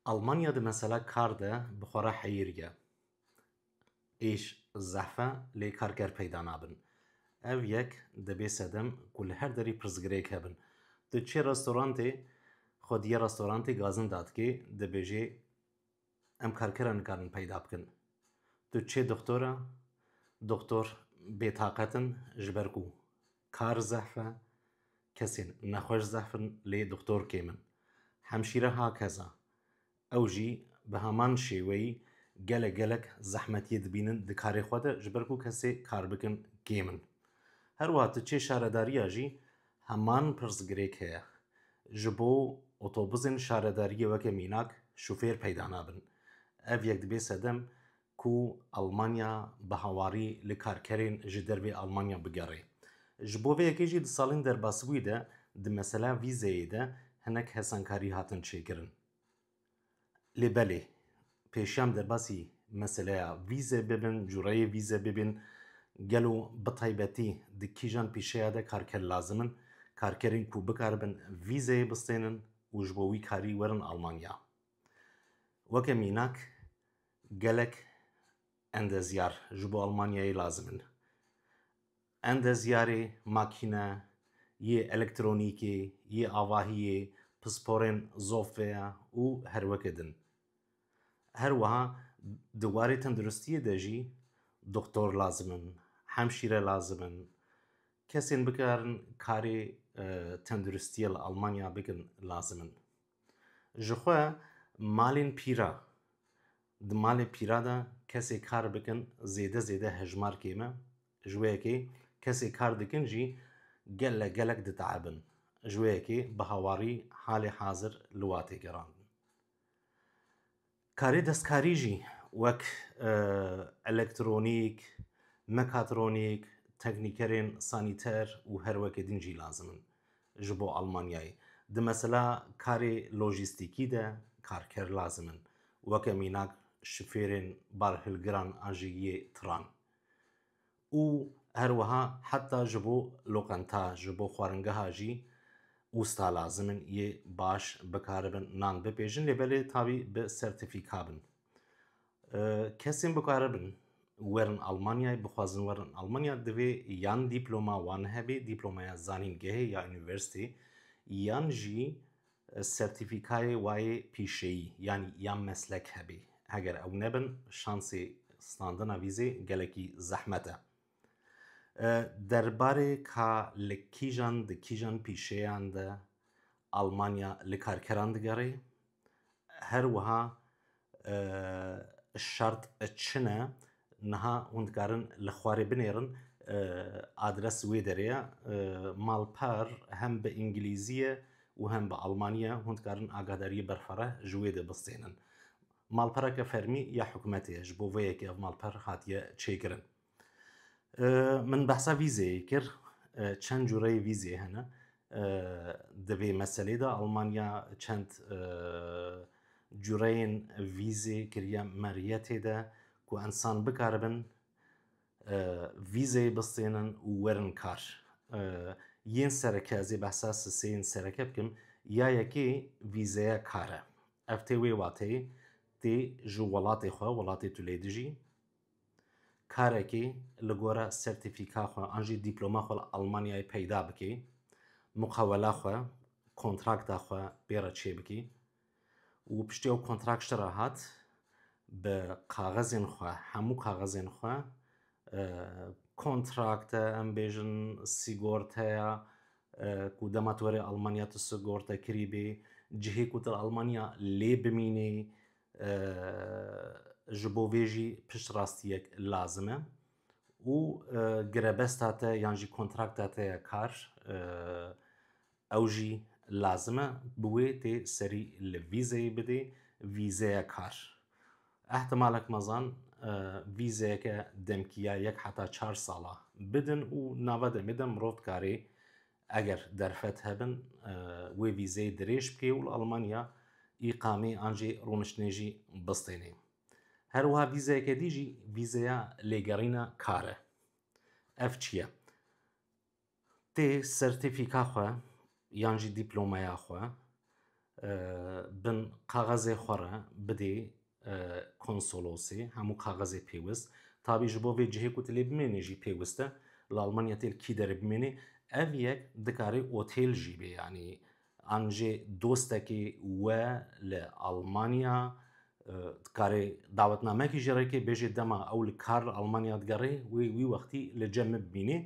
Almanya de mesela kar de bi xwe re heyîr ye. Êş zehfe lê karker peyda nabin. Ev yek dibê sedem ku li her derî pirsgirêk hebin. Tu çê restorantê xwe diyê restorantê gazin dadikê dibêjê Em karkera nikarin peyda bikin. Tu çê doktor e, doktor bêtaqet in ji ber ku kar zehf e, kesên nexweş zehf in lê doktor kêm in. Hemşîre ha keza. Ew jî bi heman şêweyî gelek gelek zehmetiyê dibînin di karê xwe de ji ber ku kesê kar bikin kêm in. Her wiha tu çê şaredariya jî Heman pirsgirêk heye. Ji bo otobusên şaredariyê weke mînak şofêr peyda nabin. Ev yek dibe sedem ku Elmanya bi hawarî li karkerên ji dervê Elmanya bigerê. Ji bo vê yekê jî di salên derbasbûyî de di mesela vîzeyê de hinek hesankarî hatin çêkirin. Lê belê pêşiyan derbasî meseleya vîzê bibin, cureyê vîzê bibin, gelo bi taybetî di kîjan pîşeya de karker lazim in, karkerên ku bikaribin vîzeyê bistênin û ji bo wî karî werin Almanya. Weke mînak gelek endezyar ji bo Almanyayê lazim in. Endezyarê makîne yê elektronîkê yê avahiyê pisporên zofeya û herweke din. Her wiha di warê tenduristiyê de jî doktor lazim in, hemşîre lazim in, kesên bikarin karê tenduristiyê li Almanya bikin lazim in. Ji xwe malên pîra, di malê pîra de kesê kar bikin zêde zêde hejmar kêm e. Ji wê yekê kesê kar dikin jî gelek gelek diteebin. Ji wê yekê bi hawarî halê hazir li wa tê gerandin. Karê destkarî jî wek elektronîk, mekatronîk, teknîkerên sanîter û her wekê din jî lazim in ji bo Almanyayê. Di mesela karê lojîstîkî de karker lazim in weke mînak şifêrên barhilgiran an jî yê tiran. û her wiha heta ji bo loqenta, ji bo xwaringeha jî usta lazim in yê baş bikaribin nan bipêjin lê belê tabî bi sertîfîka bin. Kesên bikaribin werin Almanyayê bixwazin werin Almanya divê yan dîploma wan hebê, dîplomaya zanîngehê ya unîversîtê yan jî Sertîfîkayê wê pîşeyî yanî ya meslek hebê. Heger ew nebin, şansê standina vîzê gelekî zehmet e. Derbarê ka li kîjan di kîjan pîşeyan de Almanya li karkeran digerê, her wiha Şart çi ne? Niha hûn dikarin li xwarê binêrin. Adres wê derê ye. Malper hem bi îngilîzî ye û hem bi almanî ye. Hûn dikarin agahdarîyê berfireh ji wê de bistênin. Malpereke fermî ya hikûmetê ye. Ji bo vê yekê ev malper hatiye çêkirin. Min behsa vîzeyê kir. Çend cûreyê vîzê hene. Di vê meselê de Almanya çend cûreyên vîzê kiriye meriyetê de ku ensan bikaribin vîzeyê bistênin û werin kar. Yên sereke ez ê behsa siseyên sereke bikim. Ya yekê vîzeya kar e. Ev tê wê wateyê tê ji welatê xwe, welatê tu lê dijî, Karekî li gora sertîfîka xwe an jî dîploma xwe li Almanyayê peyda bikî, muqewela xwe, kontrakta xwe pê re çêbikî û piştî ew kontrakt ji re hat bi kaxizên xwe hemû kaxizên xwe kontrakt e em bêjin sîgorteya ku dema tu werî Almanya tu sigortekirî bî, cihê ku tu li Almanya lê bimînî Ji bo vê jî piştrastiyek lazim e û girebesta te yan jî kontrakta te ya kar ew jî lazim e bi wê tê serî li vîzeyê bidê vîzeya kar. Ehtimalek mezan vîzeyeke demkî ya yek heta çar sala bidin û nava demê de mirov dikarê Eger derfet hebin wê vîzeyê dirêj bikê û li Almanya îqamê an jî rûniştinê jî bistênê. Her wiha vîzeyeke dî jî vîzeya lêgerîna kar e. Ev çi ye? Tê sertîfîka xwe yan jî dîplomaya xwe Bin kaxezê xwe re bidê konsolosê hemû kaxezê pêwist. Tabî ji bo vê cihê ku tu lê bimênî jî pêwist e. Li Almanya têl kî derê bimênî. Ev yek dikarê otêl jî bê yanî an jê dostekê we li Almanya Karê dawetnamekî ji rêkê bêjê dema ew li kar li Almanya digerê wê wî wextî li cem min bibînê.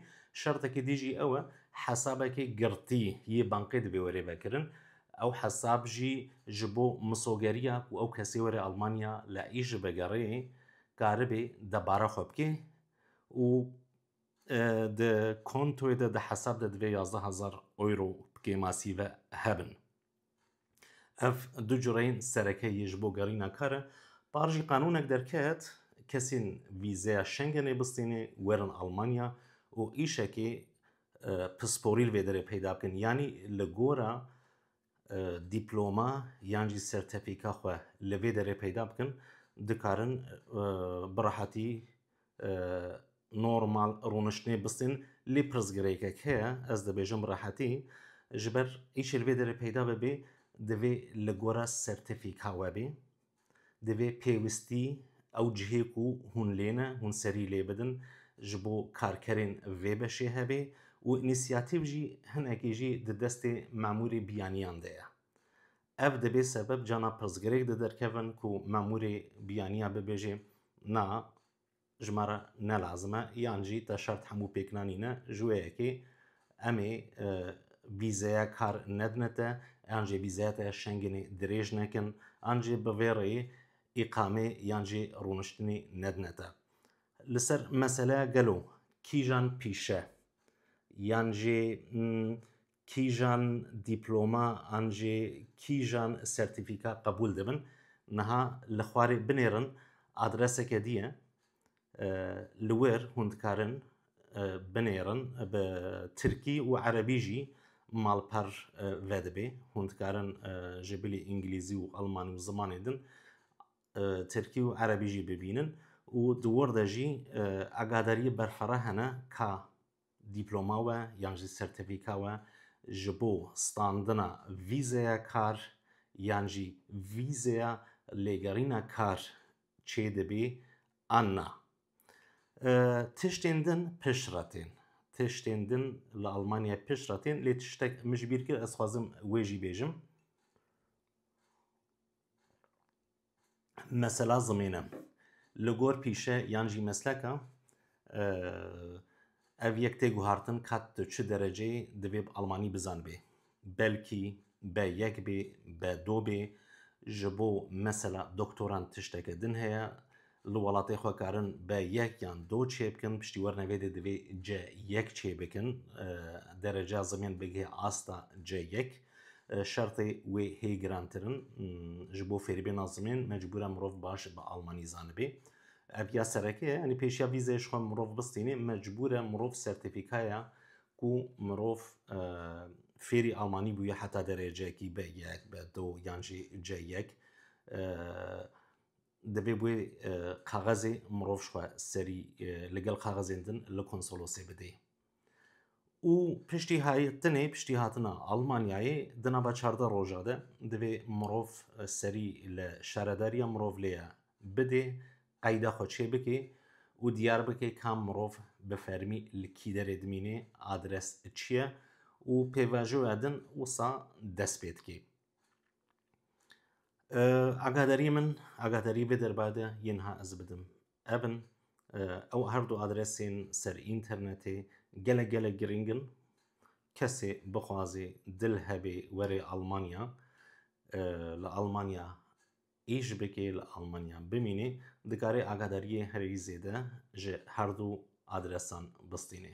Şertekê dî jî ew e hesabekê girtî yê bankê dibê were vekirin. Ew hesab jî ji bo misogeriya ku ew kesê were Almanya li êşî vegerê karibê debara xwe bikê û di kontoyê de di hesab de divê yazdeh hezar euro bikê masîve hebin. Ev du cureyên sereke yê ji bo gerîna kar e. Par jî qanûnek derket, kesên vîzeya Schengenê bistînê werin Almanya û îşekê pisporî li vê derê peyda bikin. Yanî li gora dîploma yan jî sertefîka xwe li vê derê peyda bikin, dikarin bi rehatî Normal rûniştinê bistên lê pirsgirêkek heye, ez dibêjim bi rehetî ji ber îşê li vê derê peyda bibê divê li gora sertîfîka we bê. Divê pêwistî ew cihê ku hûn lê ne hûn serî lê bidin ji bo karkerên vê beşê hebê û înîsiyatîv jî hinekî jî di destê memûrê biyaniyan de ye. Ev dibê sebeb cana pirsgirêk di derkevin ku memûrê biyaniya bibêjê na ji me re ne lazim e yan jî te şert hemû pêk nanîne ji wê yekê emê e, vîzeya kar nedine te yan jê vîzeya te şengînê dirêj nekin an jê bi vê rêyê îqamê yan jê rûniştinê nedine te. Li ser meseleya gelo kîjan pîşe yan jê Kîjan dîploma an jî kîjan sertîfîka qebûl dibin niha li xwarê binêrin adreseke dî ye li wir hûn dikarin binêrin bi tirkî û erebî jî malper vedibê hûn dikarin ji bilî îngilîzî û elmanî û zimanê din tirkî û erebî jî bibînin û di wir de jî agadariyê berfireh hene ka Dîploma we yan jî sertefîka we ji bo standina vîzeya kar yan jî vîzeya lêgerîna kar çêdibî an na. Tiştên din pişt re tên. Tiştên din li Almanyayê pişt re tên lê tiştek min ji bîr kir ez dixwazim wê jî bêjim. mesela zimîne li gor pîşe yan jî mesleka ev yek tê guhartin kat tu çi dereceyê divê bi Almanî bizanibê. Belkî be yek bê, be do bê. Ji bo mesela doktoran tişteke din heye. Li welatê xwe karin be yek yan do çê bikin, piştî werine vê dê divê C yek çê bikin. Dereceya zimên bigihê asta C yek. Şertê wê hê girantir in. Ji bo fêrîbêna zimên mecbûr e mirov baş bi almanî zanibê. Ev ya sereke ye, yanî pêşiya vîzeyê ji xwe mirov bistînê mecbûr e mirov sertîfîkaya ku mirov fêrî almanî bûye heta dereceyekî B yek, B do yan jî C yek divê wê kaxezê mirov ji xwe serî li gel kaxezên din li konsolosê bidê. û piştî hatinê piştî hatina Almanyayê di nava çardeh roja de divê mirov e, serî li şaredariya mirov lê ye bidê qeyda xwe çê bikê û diyar bike ka mirov bi fermî li kî derê dimînê adres çi ye û pêvajoya din wisa dest pê dikê. Agadarî min agadarî vê derbade yên ha ez bidim Ev in ew her du adresên ser înternetê gelek gelek girîng in. Kesê bixwazê dil hebê were Almanya li Almanya îş bike li Almanya bimîne dikare agadariyê herî zêde ji her du adresan bistîne.